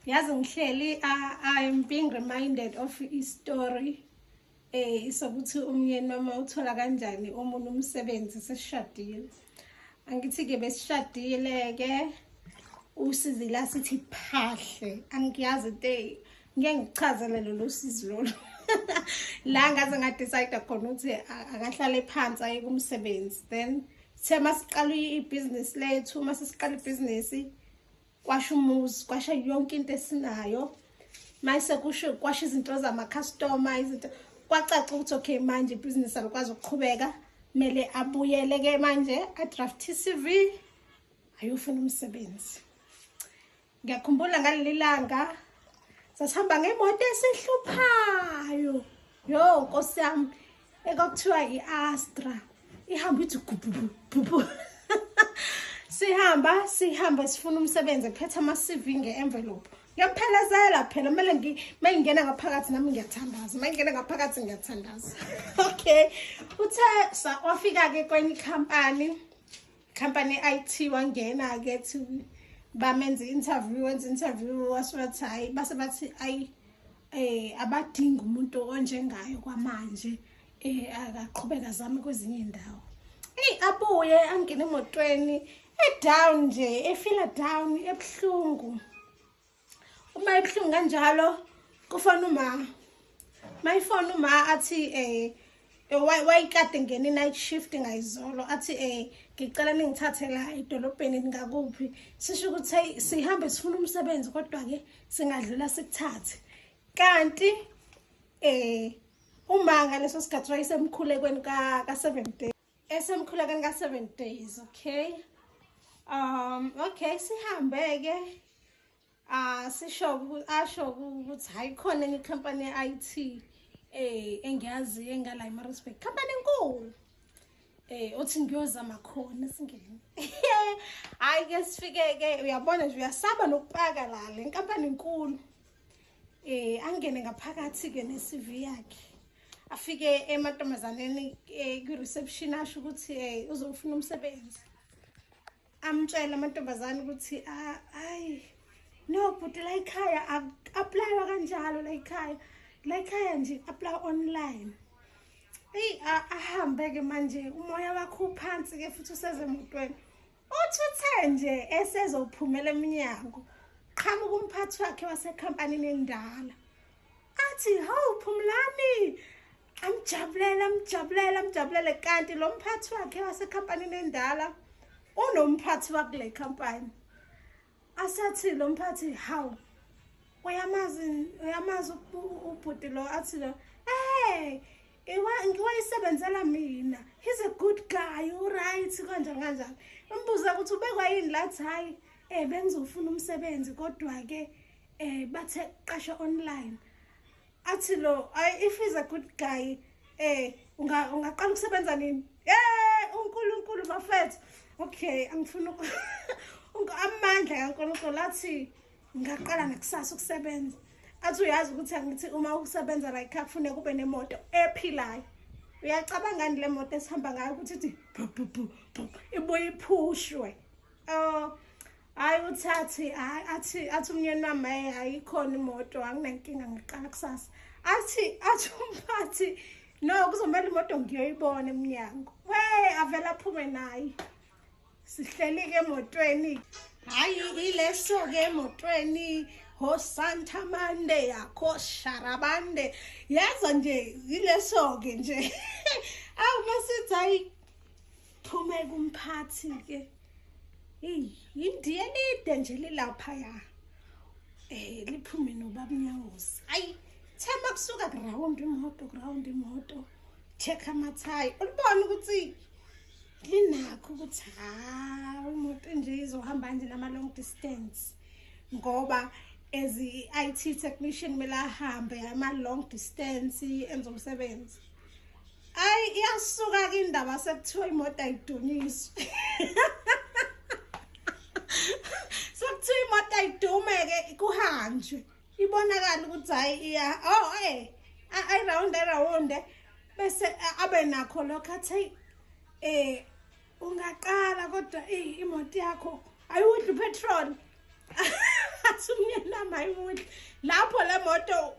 yazi ngihleli i'm being reminded of istory eh isokuthi umyeni mama uthola kanjani omunye umsebenzi sesishadile angithi ke besishadile ke usizila sithi phahle angiyazi into ngeke ngichazele lolu sizi lolu la ngaze ngadecide khona ukuthi akahlale phansi aye kumsebenzi then sithe masiqala ibhizinisi lethu uma sesiqala ibhizinisi kwasha umuzi kwasha yonke into esinayo mayise kusho kwasha izinto zamakhastoma izinto kwacaca ukuthi okay manje ibhizinisi alikwazi ukuqhubeka kumele abuyele-ke manje adraft i-cv ayofuna umsebenzi ngiyakhumbula ngaleli langa sasihamba ngemoto esihluphayo yo nkosi yami ekokuthiwa i-astra ihamba ithi gubhubhubhu sihamba sihamba sifuna umsebenzi kuphetha ama-cv nge-envelope ngiyamuphelezela phela kumele uma ngingena ngaphakathi nami ngiyathandaza uma ngingena ngaphakathi ngiyathandaza okay uthe wafika-ke kwenye ikhampani ikhampani ye-i t wangena-ke thi bamenze i-interview wenza i-interview wasubathi hhayi base bathi ayi eh abadinga umuntu onjengayo kwamanje eh akaqhubeka zami kwezinye indawo hey abuye angene emotweni e down nje e feel down ebhlungu uma ebhlungu kanjalo kufona uma my phone uma athi eh wayikade ngena i-night shift ngayizolo athi um ngicela ningithathe la edolobheni ngakuphi sisho ukuthi hey sihambe sifuna umsebenzi kodwa-ke singadlula sikuthathe kanti um umanga leso sikhathi wayesemkhulekweni ka-seven days esemkhulekweni ka-seven days okay um okay sihambe-ke Ah sisho asho ukuthi hayi khona enye company ye-IT eh engiyazi engala iMaritzburg company enkulu eh othi ngiyozama khona singene hayi ke sifike ke uyabona nje uyasaba nokupaka la le nkampani enkulu eh angene ngaphakathi ke ne-CV yakhe afike emantombazaneni eh, kwi-reception asho ukuthi eh, uzofuna umsebenzi amtshela amantombazane ukuthi ayi no bhuti la ikhaya aplaywa kanjalo la ikhaya la ikhaya nje apply online eyi ahambe-ke manje umoya wakho uphansi-ke futhi usezemotweni uthi uthe nje esezophumela eminyango qhamuka umphathi wakhe wasekhampanini endala athi hawu phumlani amjabulele amjabulele amjabulele kanti lo mphathi wakhe wasekhampanini endala unomphathi wakule khampani asathi lo mphathi hawu uyamazi uyamazi ubhuti lo athi lo hey ngiwayisebenzela mina he's a good guy uright kanjani kanjani umbuza ukuthi ubekwa yini lathi hhayi um eh, bengizofuna umsebenzi kodwa-ke um eh, bathe qasha online athi lo ayi if is a good guy eh unga ungaqala ukusebenza nini eh uNkulunkulu bafethu okay angifuna amandla kaNkulunkulu athi ngaqala ngakusasa ukusebenza athi uyazi ukuthi angithi uma ukusebenza like akufune kube nemoto ephilayo uyacabangani le moto esihamba ngayo ukuthi ithi ibuye iphushwe Oh hayi uthathi athi athi umyeni wami hayi ayikhona imoto anginankinga ngiqala kusasa athi athi umphathi no kuzomele imoto ngiyoyibona emnyango we avela aphume naye sihleli-ke emotweni hhayi ileso-ke emotweni ho santa mande yakho sharabande yaza nje yileso-ke nje awu masithi hhayi Phume kumphathi ke. Yindiye lide nje lilapha ya. Eh liphume nobaba Nyawosi. Ayi themba kusuka ground imoto ground imoto. Check amathayi. Ulibona ukuthi linakho ukuthi ha umuntu nje izohamba nje nama long distance ngoba as i-IT technician kumele ahambe ama long distance enza umsebenzi Ay iyasuka ke indaba sekuthiwa imoto ayidunyiswe. Sekuthiwa imoto ayidume ke kuhanjwe. Ibonakala ukuthi hayi iya oh eh ay round round bese abe nakho lokho athi eh ungaqala kodwa eyi imoto yakho ayiwudli upetrol athi umyeni wami ayiwudli lapho le moto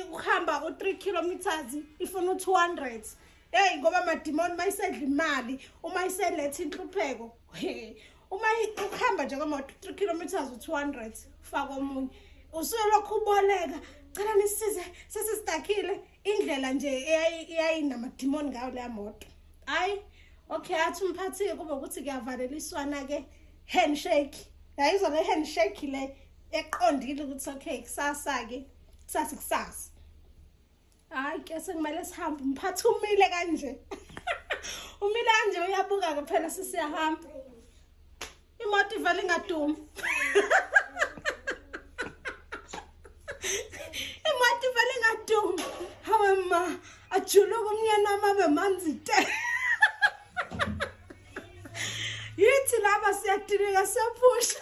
ukuhamba u-three kilometers ifuna u-two hundred eyi ngoba madimoni uma isedla imali uma iseletha inhlupheko uma ukuhamba nje kwemoto u-three kilometers u-two hundred faka omunye usuke lokhu uboleka cela nisize sesisidakhile indlela nje eyayinamadimoni ngayo leya moto hayi okay athi umphathi-ke kube ukuthi kuyavaleliswana-ke handshake yayizwa le handshake le eqondile ukuthi okay kusasa-ke kusasa kusasa hayi ke sekumele sihambe umphathi umile kanje umile kanje uyabuka-ke phela sisiyahamba imoto ivele ingadumi imoto ivele ingadumi hawe ma ajuluka umyeni wami abe manzi te yithi laba siyatileka siyaphusha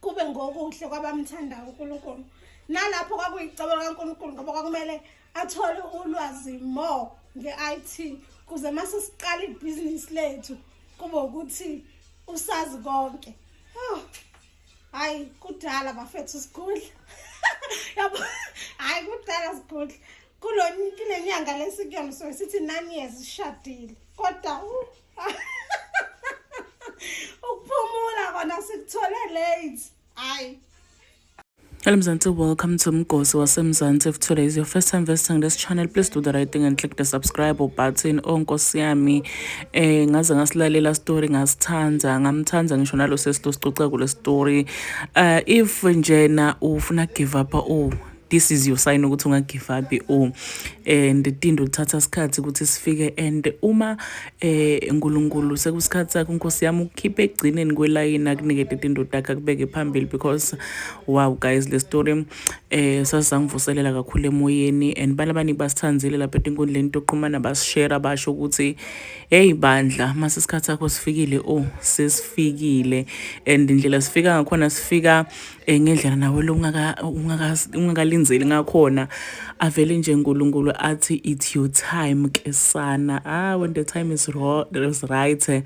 kube ngokuhle kwabamthandayo uNkulunkulu nalapho kwakuyicebo likaNkulunkulu ngoba kwakumele athole ulwazi more nge-IT kuze mase siqala ibhizinisi lethu kube ukuthi usazi konke oh hayi kudala bafethu sigudla yabo hayi kudala sigudla kulo kunenyanga lesikuyona so sithi nine years sishadile kodwa ukuphumula kona sikuthole late hayi Elimzansi, welcome to Mgosi waseMzansi. If today is your first time visiting this channel, please do the right thing and click the subscribe button. Oh Nkosi yami, eh ngaze ngasilalela story ngasithanda, ngamthanda ngisho nalo sesito sicoca kule story. Uh, if njena ufuna give up, oh this is your sign ukuthi ungagivabi u oh, and tindo lithatha isikhathi ukuthi sifike and uma eh uNkulunkulu sekusikhathi sakho inkosi yami ukukhipha egcineni kwelayini akunikete tindo takhe akubeke phambili because wow guys le story eh sasangivuselela kakhulu emoyeni and balabani basithandile lapha etinkundleni toqhumana basishare basho ukuthi hey bandla mase isikhathi sakho sifikile oh sesifikile and indlela sifika ngakhona sifika Eh, ngendlela nawe lo ungakalinzeli ngakhona avele nje nkulunkulu athi it's your time ke sana ah when the time is, is right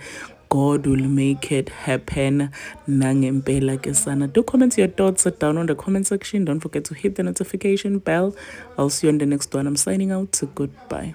God will make it happen nangempela ke sana. Do comment your thoughts down on the comment section. Don't forget to hit the notification bell. I'll see you on the next one. I'm signing out. Goodbye.